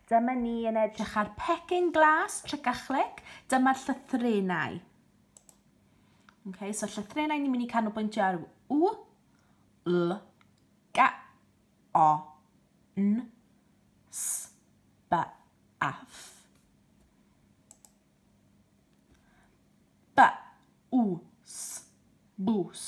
Dyma ni yn edrych ar pecyn glas, tric a chlic. Dyma'r llythrenau. Okay, so llythrenau ni'n mynd i canolbwyntio ar u, l, ga, o, n, s, b, a, f. B, u, s, bws.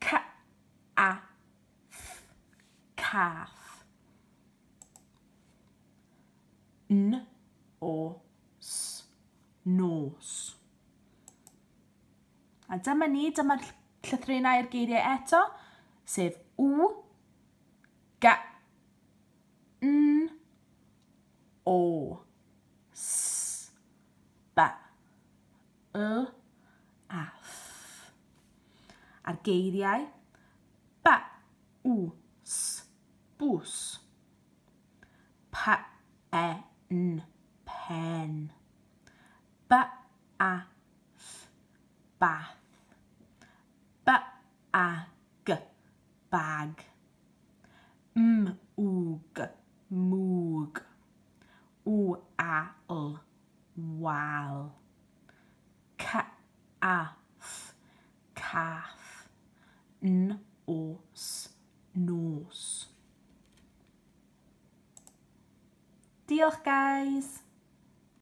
Ca a ff cath N o s nos A dyma ni, dyma'r llythrennau'r geiriau eto, sef w, ga, n, o, s, ba. y, a, ff. A'r geiriau ba, u, s, bws. Pa, e, n, pen. Ba, a, th, bath. Ba, a, g, bag. M, u, g, mwg. U, a, l, wal. Cath, cath. Nos, nos. Diolch guys!